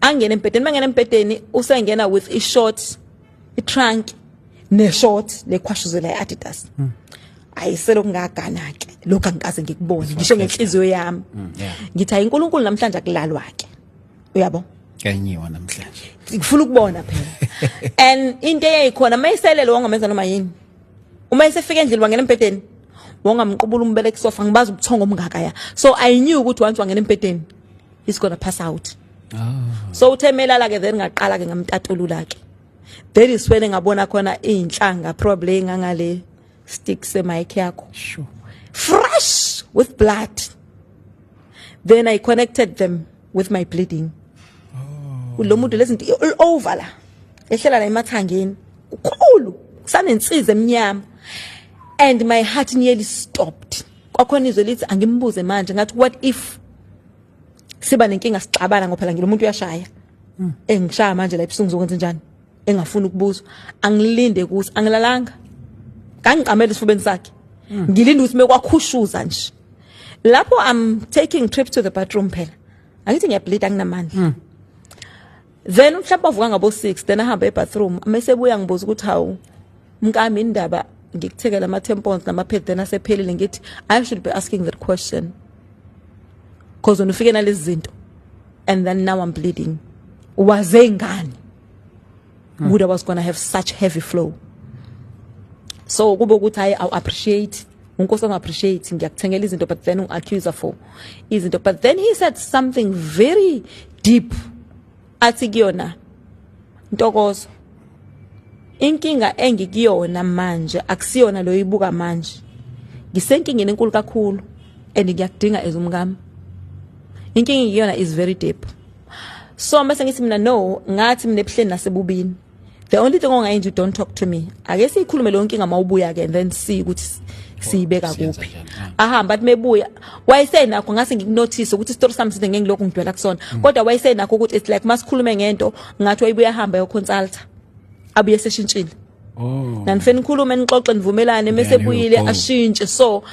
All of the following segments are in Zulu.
angene embhedeni mangena embhedeni usengena with i short i trunk ne short le khwashuzela i Adidas mm. ayiselo kungagana ke lokho angikaze ngikubone ngisho ngenhliziyo yami mm, ngithi hayi uNkulunkulu namhlanje akulalwa ke uyabo kanyiwa namhlanje ngifuna ukubona phela and into eyayikhona mayiselele wangomenza noma yini uma esefika endlini wangena embhedeni wongamqubula umbele kusofa ngibaza ubuthongo omngaka ya so i knew ukuthi wantshi wangena embhedeni he's gonna pass out ah. so uthe melala ke then ngaqala ke ngamtatulula ke then iswele ngabona khona inhlanga probably ngangale stick se mic yakho sure. fresh with blood then i connected them with my bleeding oh. lo muntu lezinto all over la ehlela la emathangeni kukhulu kusanensiza emnyama and my heart nearly stopped kwakhona izwe lithi angimbuze manje ngathi what if siba nenkinga sixabana ngoba phela ngibe umuntu uyashaya hmm. engishaya manje la ebusungu zokwenza njani engafuni ukubuzwa angilinde kuthi angilalanga kangiqamela isifubeni sakhe hmm. ngilinde ukuthi mekwakhushuza nje lapho i'm taking trip to the bathroom phela angithi ngiyableed anginamandla hmm. then mhlawumbe avuka ngabo 6 then ahamba ebathroom mase buya ngibuza ukuthi hawu mkami indaba ngikuthekela ama tampons nama pad then asephelile ngithi i should be asking that question because when ufike nalezi zinto and then now i'm bleeding waze ngani hmm. would i was going to have such heavy flow so kube ukuthi hayi awu appreciate unkosi ongaappreciate ngiyakuthengela izinto but then ungi-accuser for izinto but then he said something very deep athi kuyona ntokozo inkinga engikuyona manje akusiyona lo ibuka manje ngisenkingeni enkulu kakhulu and ngiyakudinga as umkami inkinga engiyona is very deep so mase ngithi mina no ngathi mina ebuhleni nasebubini the only thing ongayenza you don't talk to me ake siyikhulume leyo nkinga mawubuya ke and then see ukuthi siyibeka oh, kuphi ahamba athi mebuya wayesenakho ngase ngikunothise ukuthi story sami side ngengilokhu ngidwela kusona mm. kodwa wayesenakho ukuthi it's like masikhulume ngento ngathi wayibuya hamba yo consulta abuye seshintshile oh nanifeni nikhulume nixoxe nivumelane mase buyile ashintshe so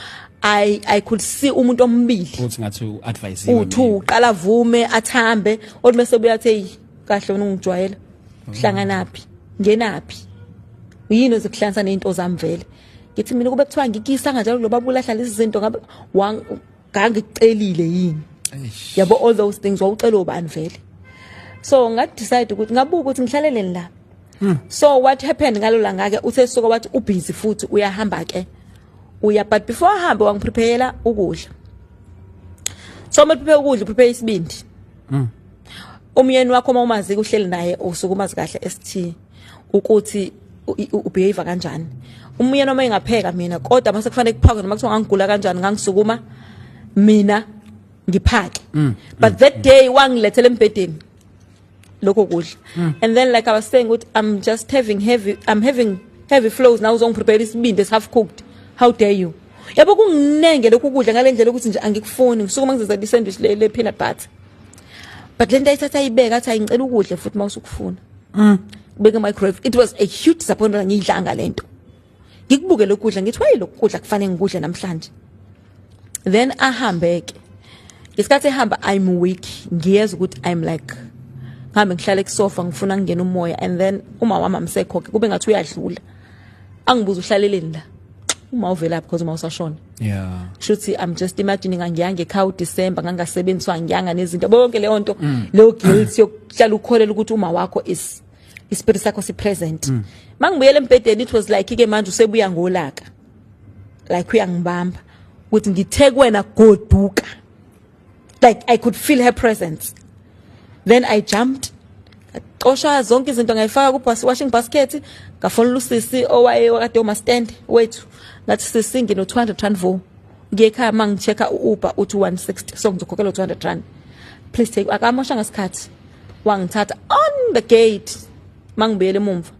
I I could see umuntu omibili uthi ngathi uadvise uthu uqala vume athambe othi mase buya athi kahle wena ungijwayela uhlanganaphi ngenaphi uyini ozikuhlanisa nezinto zami vele ngithi mina kube kuthiwa ngikisa kanjalo lo babula hlala izinto ngabe ngangicelile yini yabo all those things wawucela ubani vele so nga decide ukuthi ngabuka ukuthi ngihlaleleni la hmm. so what happened ngalo la ngake uthe suka wathi u busy futhi uyahamba ke uya but before ahambe wangiprepare ukudla so uma prepare ukudla prepare isibindi mm. umyeni wakho uma umazi kuhleli naye usuke umazi kahle ST ukuthi ubehave kanjani umyeni uma engapheka mina kodwa mase kufanele kuphakwe noma kuthiwa ngangigula kanjani ngangisukuma mina ngiphake mm, mm, but that mm. day wangilethela embedeni lokho kudla and then like i was saying ukuthi i'm just having heavy i'm having heavy flows now uzongiprepare isibindi esi half cooked how dare you yabo kunginenge lokhu kudla ngalendlela ukuthi nje angikufuni ngisuke mangizizela isandwich le peanut butter but lento ayithatha ayibeka athi ayingicela ukudle futhi mawusukufuna mm beke microwave it was a huge disappointment ngiyidlanga lento ngikubuke lokudla ngithi waye lokudla kufanele ngikudle namhlanje then ahambe ke isikhathi ehamba i'm weak ngiyeza ukuthi i'm like ngihambe ngihlale kusofa ngifuna ngingena umoya and then umama wami amsekho ke kube ngathi uyadlula angibuza uhlaleleni la uma uvela because uma usashona yeah shuthi i'm just imagining angiyanga ekhaya uDecember ngangasebenziswa ngiyanga nezinto bonke leyo nto mm. leyo guilt yokuhlala ukholela ukuthi uma wakho is ispirit sakho si present mm. mangibuyele embedeni it was like ke manje usebuya ngolaka like uyangibamba ukuthi ngithe kwena goduka like i could feel her presence then i jumped cosha zonke izinto ngayifaka ku bus washing basket ngafonela usisi owaye wakade uma stand wethu ngathi sisi ngino 200 rand vo ngiye ekhaya uma ngichecka u-uber uthi 160 so ngizokhokhela 200 rand please take akamosha ngesikhathi wangithatha on the gate mangibuyele emumva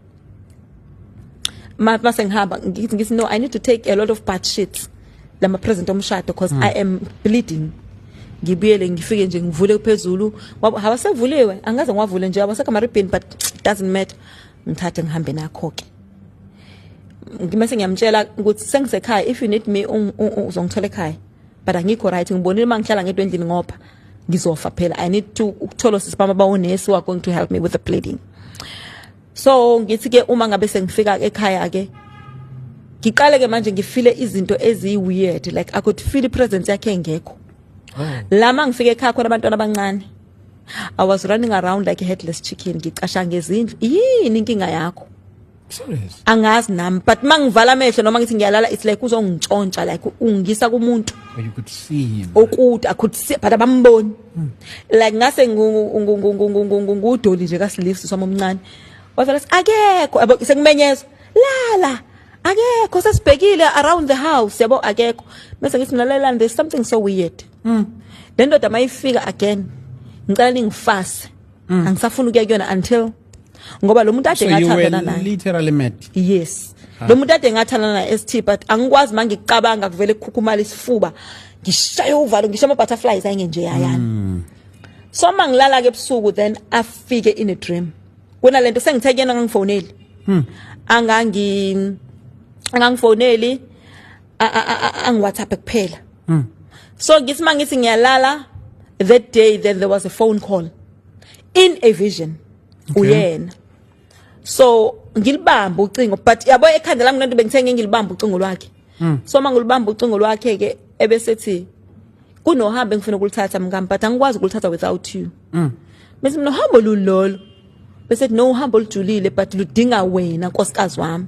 mase ngihamba ngithi ngithi no i need to take a lot of bad shits lama present omshado because mm. i am bleeding ngibuyele ngifike nje ngivule phezulu hawasevuliwe angaze ngiwavule nje awasekho ama ribbon but doesn't matter ngithathe ngihambe nakho ke ngimase ngiyamtshela ukuthi sengisekhaya if you need me uzongithola ekhaya but angikho right ngibonile uma ngihlala ngedwa endlini ngoba ngizofa phela i need to ukuthola sisibama bawonesi wakho to help me with the bleeding so ngithi ke uma ngabe sengifika ekhaya ke ngiqale ke manje ngifile izinto eziyi weird like i could feel presence yakhe engekho oh. lama ngifike ekhaya khona abantwana abancane i was running around like a headless chicken ngicasha ngezindlu yini inkinga yakho serious angazi nami but mangivala amehlo noma ngithi ngiyalala it's like uzongitshontsha like ungisa kumuntu you could see him okude i could see but abamboni Hmm. like ngase ngudoli nje kasilifsi swami omncane wavela akekho yabo sekumenyezwa lala akekho sesibhekile around the house yabo akekho bese ngithi mina lalelani there's something so weird mm. le ndoda mayifika again ngicela ningifase mm. angisafuni ukuya kuyona until ngoba lo muntu ade so ngathandana naye literally mad yes ah. lo muntu ade ngathandana naye ST but angikwazi mangikucabanga kuvele kukhukhumala isifuba ngishaye uvalo ngishaye ama butterflies ayengenje yayana mm. so mangilala ke ebusuku then afike in a dream kuna lento sengithe kuyena ngangifoneli hmm. angangi angangifoneli angiwhatsapp kuphela mm. so ngithi mangithi ngiyalala that day then there was a phone call in a vision okay. uyena so ngilibamba ucingo but yabo ekhanda lami lento bengithenge ngilibamba ucingo lwakhe mm. so mangilibamba ucingo lwakhe ke ebesethi kunohambo engifuna ukulithatha mkami but angikwazi ukulithatha without you mm. bese mina uhambo lulolo bese no uhambo olujulile but ludinga wena nkosikazi wami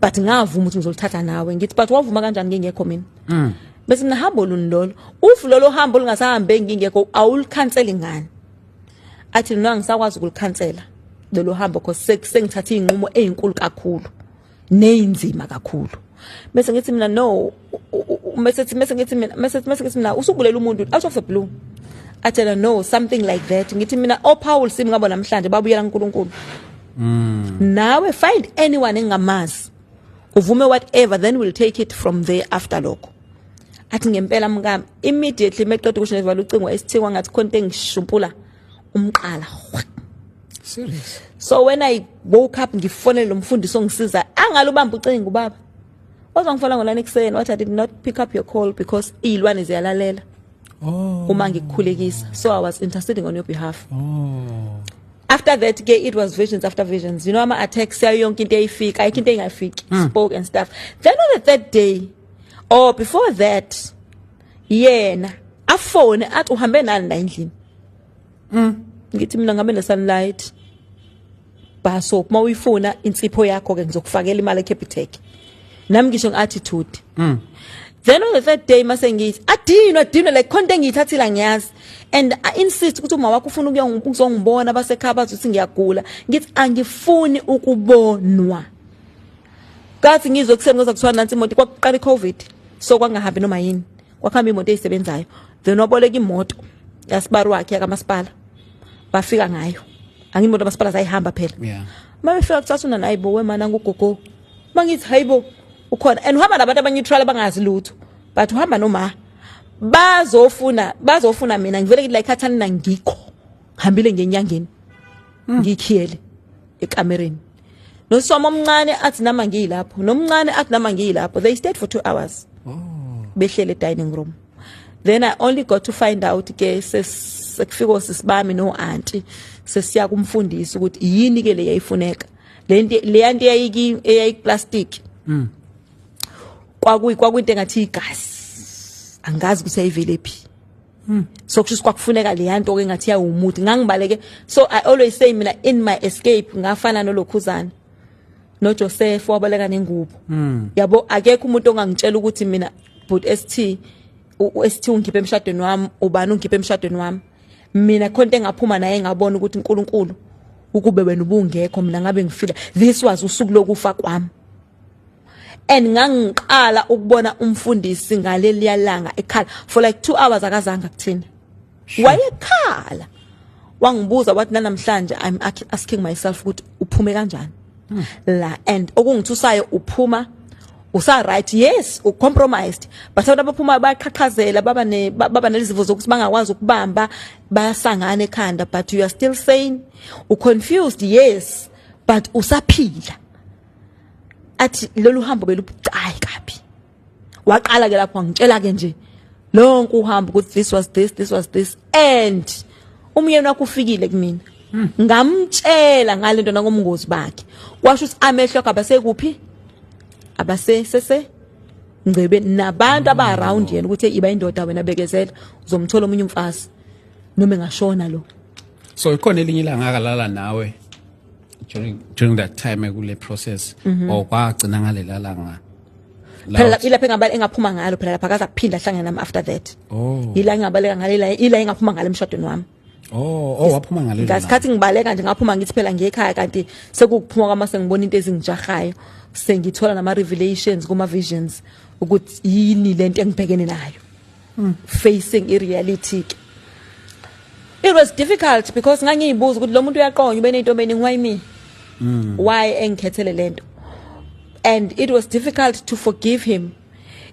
but ngavuma ukuthi ngizolithatha nawe ngithi but wavuma kanjani ngingekho mina mm. bese mina hambo luni lolo uf lolo hambo lungasahambe ngingekho awulikhanseli ngani athi nona ngisakwazi ukulikhansela lelo hambo cause sengithatha izinqumo ezinkulu kakhulu neyinzima kakhulu bese ngithi mina no mese sithi mese ngithi mina mese mese ngithi mina usubulela umuntu out of the blue atshela no something like that ngithi mina o oh, Paul sim ngabo namhlanje babuyela uNkulunkulu mm. nawe find anyone engamazi uvume whatever then we'll take it from there after lokho athi ngempela mkami immediately meqeda ukusho nevala ucingo esithikwa ngathi khona engishumpula umqala Serious. So when I woke up ngifonele lo mfundisi ongisiza angalubamba ucingo ubaba. Wazongifola ngolana ekuseni wathi I did not pick up your call because izilwane ziyalalela. Oh. Uma ngikukhulekisa. So I was interceding on your behalf. Oh. After that ke it was visions after visions. You know ama attacks yayo yonke into eyifika, ayikho into engafiki. Hmm. Spoke and stuff. Then on the third day or oh, before that yena afone athi uhambe nani la endlini mm ngithi mina ngabe nesunlight bar soap uma uyifuna insipho yakho ke ngizokufakela imali eCapitec nami ngisho ngeattitude mm then on the third day mase ngithi adinwe adinwe like khonto engiyithathila ngiyazi and i insist ukuthi uma wakho ufuna ukuzongibona basekhaya bathi uthi ngiyagula ngithi angifuni ukubonwa kathi ngizwe kuseni ngoza kuthiwa nansi imoto kwakuqala icovid so kwangahambi noma yini kwakuhamba imoto eyisebenzayo then waboleka imoto yasibari wakhe yakamasipala bafika ngayo angimoto masipala zayihamba phela yeah. uma befika kucathuna nayi bo wemana ngugogo uma ngithi hayi bo ukhona and uhamba nabantu abaneutral abangazi lutho but uhamba noma bazofuna bazofuna mina ngivele ngithi la ikhathani nangikho hambile ngenyangeni hmm. ngikhiyele ekamereni nosoma omncane athi nama ngiyilapho nomncane athi nama ngiyilapho they stayed for 2 hours oh. behlele dining room then i only got to find out ke sekufika osisibami no auntie sesiya kumfundisi ukuthi yini ke le yayifuneka le nto le yanto eyayiki eyayiplastic mm kwakuyi kwakuyinto engathi igazi angazi ukuthi ayivele phi Hmm. so kusho kwakufuneka leya nto ke ngathi yawumuthi ngangibaleke so i always say mina in my escape ngafana nolokhuzana noJoseph wabaleka nengubo hmm. yabo akekho umuntu ongangitshela ukuthi mina but ST uST ungikhiphe emshadweni wami ubani ungikhiphe emshadweni wami mina khonto engaphuma naye ngabona ukuthi uNkulunkulu ukube wena ubungekho mina ngabe ngifika this was usuku lokufa kwami and ngangiqala ukubona umfundisi ngaleliya langa ekhala for like 2 hours akazange kuthina wayekhala wangibuza wathi nanamhlanje i'm asking myself ukuthi uphume kanjani hmm. la and okungithusayo uphuma usa right yes u compromised but abantu abaphuma bayaqhaqhazela baba ne baba nelizivo zokuthi bangakwazi ukubamba bayasangana ekhanda but you are still sane u confused yes but usaphila athi lolu hambo belubucayi kabi waqala ke lapho ngitshela ke nje lonke uhambo ukuthi this was this this was this and umyeni wakho ufikile kumina hmm. ngamtshela ngalento nangomngozi bakhe kwasho ukuthi amehlo akhe abasekuphi abase sese ngcebe nabantu aba around yena ukuthi iba indoda wena bekezela uzomthola omunye umfazi noma engashona lo so ikhona elinye ilanga akalala nawe during during that time kule process mm -hmm. or kwagcina ngalela langa phela ilapha engabale engaphuma ngalo phela lapha akaza kuphinda ahlangene nami after that oh ila engabaleka ngalela ila engaphuma ngalo emshadweni wami Oh, oh waphuma ngale. Ngasikhathi ngibaleka nje ngaphuma ngithi phela ngekhaya kanti sekuphuma kwama sengibona into ezingijahayo. Sengithola nama revelations kuma visions ukuthi yini lento engibhekene nayo. mm. facing i reality ke it was difficult because ngangiyibuza ukuthi lo muntu uyaqonya ube nezintombeni why me mm. why engikhethele lento and it was difficult to forgive him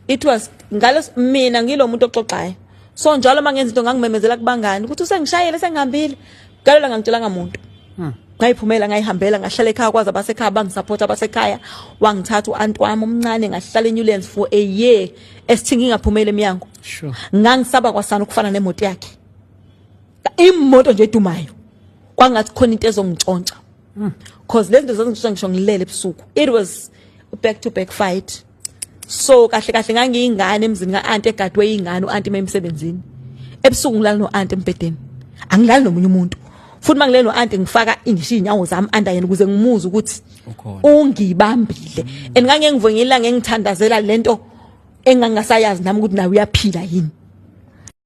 it was ngalo mina ngilomuntu oxoxayo so njalo mangenza into ngangimemezela kubangani ukuthi usengishayele sengihambile galela ngangitshelanga muntu hmm. ngayiphumela ngayihambela ngahlala ekhaya kwaze abasekhaya bangisupport abasekhaya wangithatha uanti wami omncane ngahlala eNewlands for a year esithi ngingaphumeli emnyango sure ngangisaba kwasana ukufana nemoto yakhe imoto nje edumayo kwangathi khona into ezongintshontsha hmm. cause lezi zinto zazingishontsha ngisho ngilele ebusuku it was back to back fight so kahle kahle ngangiyingane emzini ka-anti egadwe yingane u-anti uma emsebenzini ebusuku ngilala no-anti embhedeni angilali nomunye umuntu futhi uma ngilele no-anti ngifaka ngisho iy'nyawo zami andayena ukuze ngimuze ukuthi ungibambile and ngangeke ngivuke ngilanga ngithandazela lento engangasayazi nami ukuthi nawe uyaphila yini